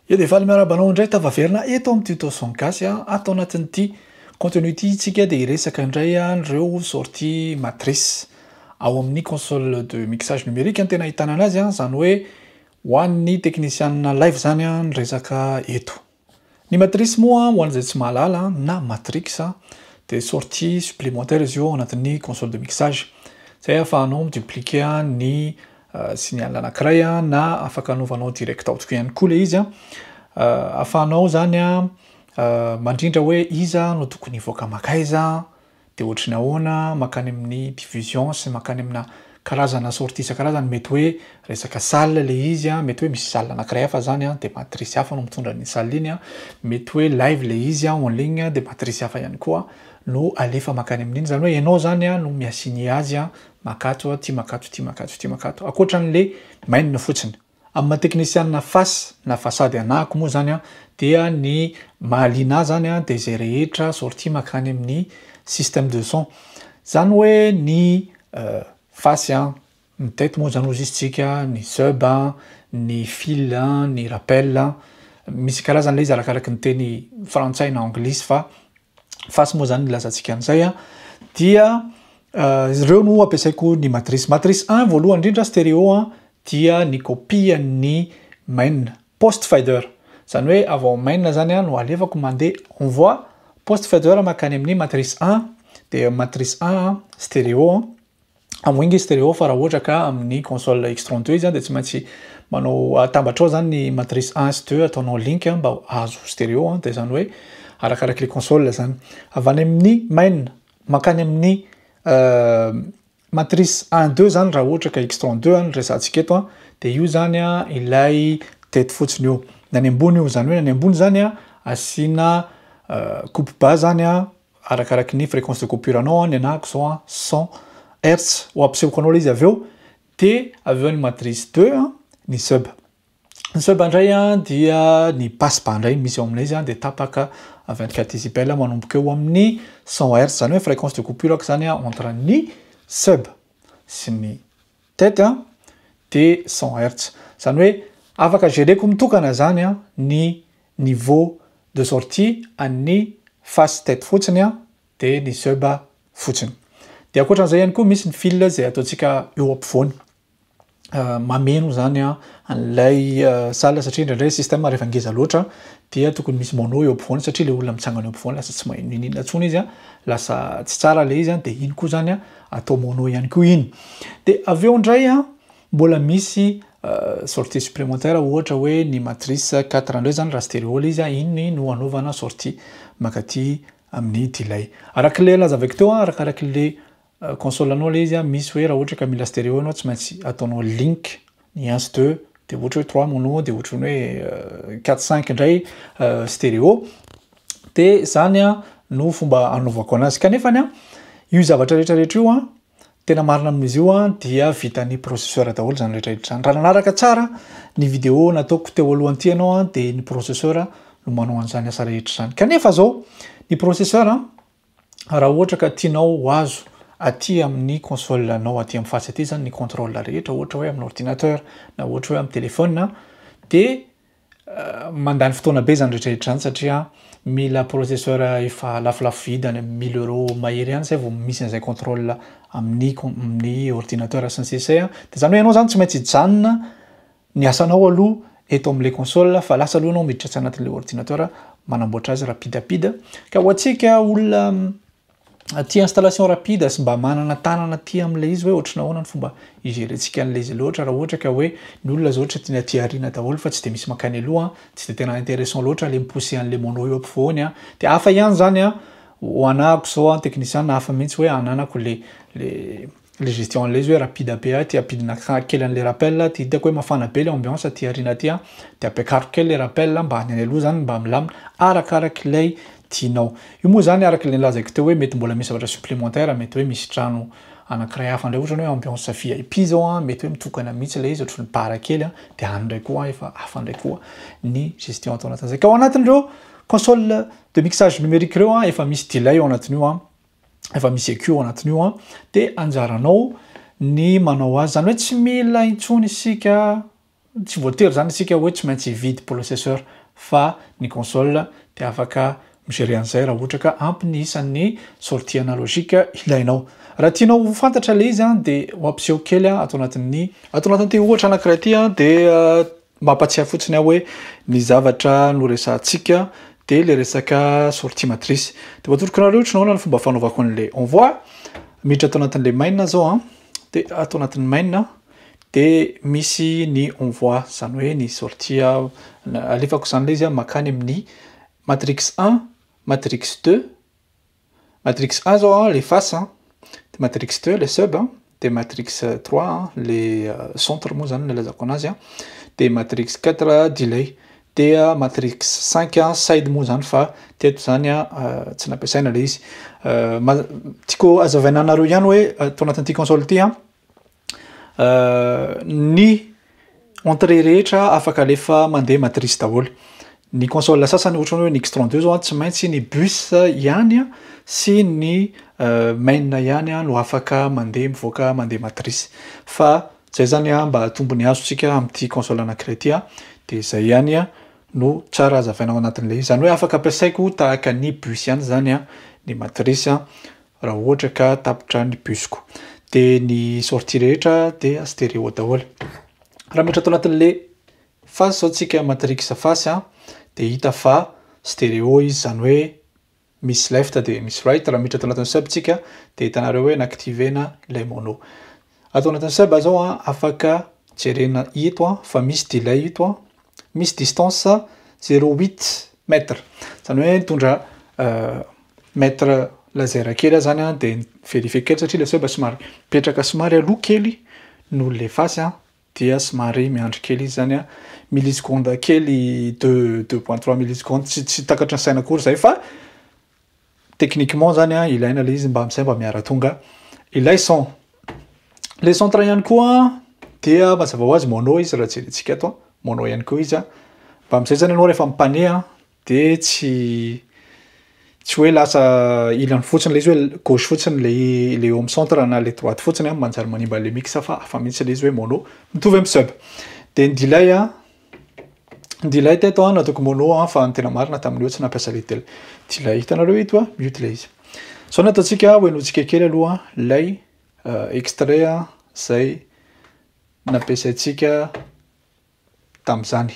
Ya dia faly miarahaba anao indray tafaverina eto amin'ny tuto son gasy a, ato anatin'ity contenu ity isika dia hiresaka indray an'ireo sortie matrice ao amin'ny console de mixage numérique no tena ahitana anazy a, izany hoe ho an'ny teknisianina live izany ny resaka eto. Ny matrice moa ho an'izay tsy mahalala na matrix dia sortie supplémentaire izy io ao anatin'ny console de mixage izay ahafahanao mi-dupliquer ny signal anankiray a, na afaka anovanao direct out ko ihany koa le izy a, afahanao zany a mandrindra hoe iza no tokony hivoaka makaiza de ohatry ny ahoana makany amin'ny division sy makany amina karazana sortie isan-karazany mety hoe resaka salle le izy a, mety hoe misy salle anankiray hafa zany a de matrice hafa no mitondra an'iny salle iny a, mety hoe live le izy a en ligne de matrice hafa ihany koa no alefa makany amin'iny, zany hoe enao zany a no mi-assigner azy a Makato aho, tia makato, tia makato, tia makato. Ankoatra an'ilay mainina fotsiny. Amin'ny maha teknisianina face na façade anahako moa izany dia ny mahaliana ahy izany dia izay rehetra sortie mankany amin'ny système de son. Izany hoe ny face, ny tête moa izany hozy izy tsika, ny sub, ny fil, ny rappel. Misy karazany ilay izy arakaraky ny teny frantsay na anglisy fa. face moa zany nilazantsika an'izay a dia ireo no ampiasaiko ny matrice matrice 1 voalohany indrindra stéréo a dia ny copie ny main post fader zany hoe avy ao main zany a no alevako mandeha on voit post fader makany amin'ny matrice 1 dia matrice 1 stéréo Hamoinga i stereo fa raha ohatra ka amin'ny console X32 izy dia tsy maintsy manao atambatrao zany ny matrice 1 sy 2 ataonao link mba hahazo stereo dia zany hoe arakaraka le console zany. Avy any amin'ny main mankany amin'ny euh, matrice 1 2 zany raha ohatra ka X32 any resantsika eto dia io zany ilay teto fotsiny io. Nany ambony io zany hoe nany ambony zany asiana euh, coupe bas zany arakaraky ny fréquence de coupure anao an, ny anahako zao an cent hertz, ho ampisehoko anao le izy avy eo, de avy eo ny matrice deux an, ny sub, ny sub indray an dia ny passe bas indray no misy ao amin'ilay izy an, de tapaka vingt quatre décibel manomboka eo amin'ny cent hertz, zany hoe fréquence de coupure aky zany an entre ny sub sy ny tête an de cent hertz, zany hoe afaka gereko mitokana zany an ny niveau de sortie an'ny face tête fotsiny an dia ny sub fotsiny dia ankoatran'izay ihany koa misy ny fil izay ataontsika eo ampovoany mameno izany an an'ilay salle satria indraindray système rehefa ngeza loatra dia tokony misy mono eo ampovoany satria ilay olona mitsangana eo ampovoany lasa tsy maheno iny inona intsony izy an lasa tsy tsara ilay izy an dia iny koa izany an atao mono ihany koa iny dia avy eo indray an Mbola misy sortie supplémentaire ohatra hoe ny matrice quatre indray zany raha stereo le izy iny no anaovana sortie mankaty amin'ny delay. Araka le lazavaiko teo arakaraky le console anao le izy misy hoe raha ohatra ka mila stereo ianao tsy maintsy ataonao link ny un sy deux de ohatra hoe trois mono de ohatrany hoe quatre cinq indray stereo de zany no fomba anaovako anazy kanefany io zavatra retraretra io Tena marina amin'izy io an, dia vitan'ny processeur daholo izany rehetra rehetra izany. Raha nanaraka tsara ny video nataoko teo aloha an'ity ianao an, dia ny processeur no manao an'izany asa rehetra izany. Kanefa izao, ny processeur an, raha ohatra ka tianao ho azo aty amin'ny console anao aty amin'ny fatsy aty izany ny contrôle rehetra, ohatra hoe amin'ny ordinateur na ohatra hoe amin'ny téléphone, dia Mandany fotoana be izany rehetra rehetra izany satria mila processeur efa lafolafo vidy any amin'ny mille euros mahery any izay vao misy an'izay contrôle amin'ny com- amin'ny ordinateur sy ny sisa e, de zany hoe ianao zany tsy maintsy hijanona ny asanao aloha eto am'le console fa lasa aloha ianao miditra tsy anatin'le ordinateur manamboatra azy rapidapida, ka ho antsika olona aty installation rapide sy mba manana tanana aty amin'ilay izy hoe ohatrany ahoana ny fomba higerentsika an'ilay izy loatra raha ohatra ka hoe ny olona izao ohatry ny aty aoriana daholo fa tsy dia misy mankany aloha tsy dia tena intéressant loatra ilay mi-pousser an'ilay mono eo ampovoany a dia hafa ihany izany a ho anahako izao a ny technician hafa mihitsy hoe ananako ilay ilay le gestion anle izy hoe rapide be aty ampidina kely anle rappel aty hitako hoe mafana be le ambiance aty arina aty an de ampiakariko kely le rappel mba any aloha zany mba milamina arakarak'ilay tianao io moa zany araka le nilazaiko teo hoe mety mbola misy zavatra supplémentaire mety hoe misy trano anakiray hafa ndray ohatrany hoe ambiance vip zao an mety hoe mitokana mihitsy ilay izy ohatry ny bar kely an de any ndray koa efa hafa ndray koa ny gestion atao anatin'izay ka ao anatin'ireo console de mixage numérique ireo an efa misy delay ao anatin'io an efa misy eco anatiny io an de anjaranao ny manao azy zany hoe tsy mila intsony isika tsy voatery zany isika hoe tsy maintsy hividy processeur fa ny console de afaka migerer an'izay raha ohatra ka ampy ny isan'ny sortie analogique ilainao raha tianao ho fantatra le izy an de ho ampiseho kely an ato anatin'ny ato anatin'ity ohatra anankiray ity an de Mampatsiahy fotsiny aho hoe ny zavatra noresahantsika dia ilay resaka sortie matrice. Dia mba atoroko anareo ohatry ny ahoana ny fomba fanaovako an'ilay envoi. Miditra ato anatin'ilay main izao an, dia ato anatin'ny main dia misy ny envoi izany hoe ny sortie alefako izany ilay izy mankany amin'ny matrix un, matrix deux, Matrix un zao an le face an, de matrix deux le sub an, de matrix trois an le centre moa zany nilazako anazy an, de matrix quatre delay, de matrix cinq an side moa zany fa teto zany an tsy nampiasaina le izy, tiako azavaina anareo ihany hoe ato anatin'ity console ity an ny entrée rehetra afaka alefa mandeha matrice daholo ny console sasany ohatrany hoe ny x 32 zao a tsy maintsy ny bus ihany a sy ny main ihany a no afaka mandeha mivoaka mandeha matrice fa zay zany a mba hahatombo ny azontsika amin'ity console anankiray ity a de zay ihany a no tsara hazavaina ao anatin'le izy zany hoe afaka ampiasaiko tahaka ny bus ihany zany a ny matrice a Raha ohatra ka tapitra ny busiko de ny sortie rehetra de stereo daholo. Raha miditra ato anatin'le face zao tsika matrix face a de hita fa stereo izy zany hoe misy left de misy right. Raha miditra ato anatin'ny sub tsika de hitanareo hoe na activer-na ilay mono. Ato anatin'ny saba zao an, afaka jerena ito an, fa misy delay ito an, misy distance zero huit mètre, zany hoe mitondra mètre laser kely aho zany an, de mi-verifier kely satria le saba somary mipetraka somary aloha kely noho le face an, dia somary miandry kely izy zany an, millisecondes kely deux deux point trois millisecondes, tsy tsy takatry ny saina akory zay fa Techniquement zany an, ilaina le izy mba amzay mba miara tonga ilay son. Le centre ihany koa dia mazava ho azy mono izy raha jerentsika eto an, mono ihany koa izy an, mba amzay zany enao refa mipane an de tsy tsy hoe lasa ilany fotsiny le izy hoe gauche fotsiny le le eo am centre na le droite fotsiny an manjary manimba le mix fa hafa mitsy le izy hoe mono mitovy am sub. De ny delay an Delay teto an, nataoko mono an, fa ny tena marina tamin'io tsy nampiasa le del- delay. Hitanareo eto a, mute le izy. Zao ny ataontsika, hohenointsika kely aloha lay uh, extrait an, zay nampiasaintsika tamin'izany.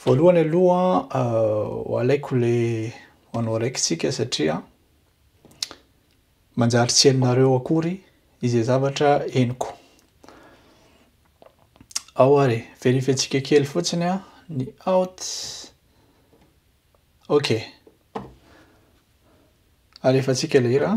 Voalohany aloha uh, alaiko le anao araiky tsika satria Manjary tsy henonareo akory izay zavatra henoko. Ao ary, verifientsika kely fotsiny an, ny out. Ok. Alefantsika ilay hira.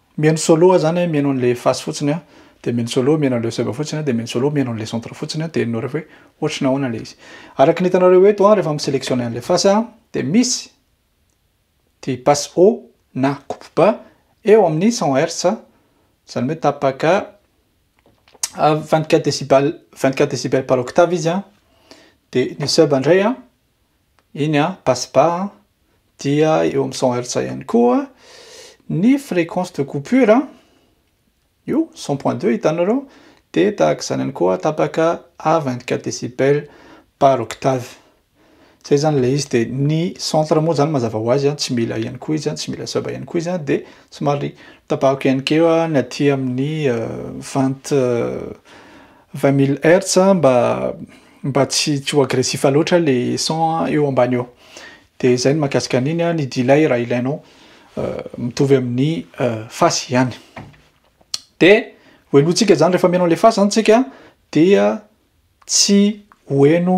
Mihaino solo aho zany a, mihaino an'le face fotsiny a, de mihaino solo, mihaino an'le sub fotsiny a, de mihaino solo, mihaino an'le centre fotsiny a, de henonareo fa hoe ohatry ny ahoana le izy. Araky ny hitanareo eto a, rehefa mi-selectionner an'le face a, de misy ity passe haut na coupe bas eo amin'ny cent hertz, zany hoe tapaka vingt quatre decibels, vingt quatre decibels par octave izy a, de ny sub ndray a. iny an, passe-bas an, dia eo amin'ny cent hertz ihany koa ny fréquence de coupure an, io cent point deux hitanareo dia tahaka izany ihany koa tapaka à vingt quatre décibels par octave, zay zany ilay izy dia ny centre moa zany mazava ho azy an, tsy mila ihany koa izy an, tsy mila sub ihany koa izy an, dia somary tapahako ihany koa ny aty amin'ny vingt Vingt mille hertz a, mba mba tsy tsy ho agressif loatra le son a eo ambany eo. De zay ny mahakasika an'iny a, ny delay raha ilainao mitovy amin'ny face ihany. De ho henointsika zany rehefa mihaino an'le face zany tsika dia tsy ho heno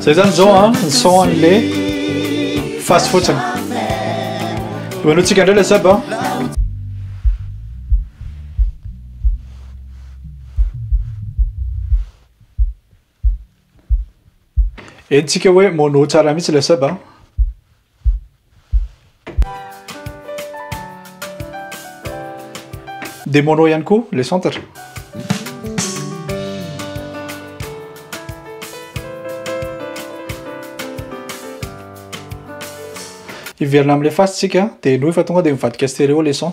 Zay zany zao an, ny son an'le fasy fotsiny. Imanontsika indray le sub an. Henontsika hoe mono tsara mihitsy le sub an. Dia mono ihany koa le centre. Hiverina amin'ilay face tsika dia henoy fa tonga dia mivadika stéréo le son.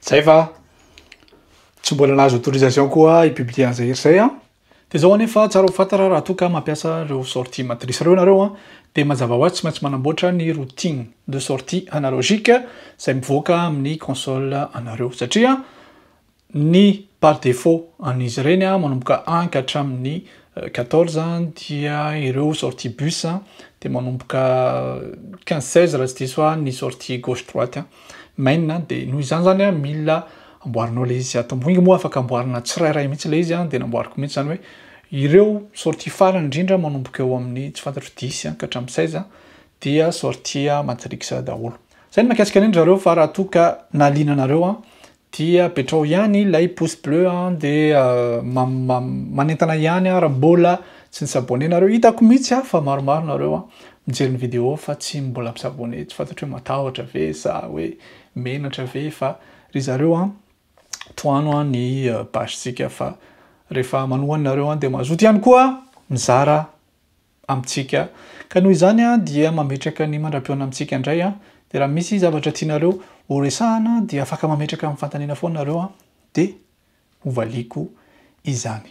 Zay fa tsy mbola nahazo autorisation koa i publier an'izay hery izay an! Dia izao anefa tsara ho fantatra raha toa ka mampiasa ireo sortie matrice ireo ianareo an! Dia mazava ho azy tsy maintsy manamboatra ny routine de sortie analogique izay mivoaka amin'ny console anareo satria ny par défaut an'izy ireny an! Manomboka un ka hatramin'ny quatorze dia ireo sortie bus dia manomboka quinze seize raha tsy diso aho ny sortie gauche droite an! Main an dia noho izany zany an mila amboarinao le izy ato moa afaka amboarina tsirairay mihitsy le izy an dia namboariko mihitsy zany hoe ireo sortie farany indrindra manomboka eo amin'ny tsy fantatro dix an ka hatramin'ny seize an dia sortie matrix daholo zay ny makasika an'iny zareo fa raha toa ka nahaliana anareo an Dia apetraho ihany ilay pouce bleu an de manentana ihany aho raha mbola tsy ni-s'abonner nareo, hitako mihitsy aho fa maromaro nareo an mijery ny vidéo fa tsy mbola mi-s'abonner, tsy fantatro hoe matahotra ve sa hoe menatra ve fa ry zareo an tohano an ny page tsika fa rehefa manohana nareo an de mazoto ihany koa mizara amintsika ka noho izany aho dia mametraka ny mandra-pihaona amintsika indray aho dia raha misy zavatra tianareo ho resahana dia afaka mametraka amin'ny fanontaniana foana nareo aho dia ho valiako izany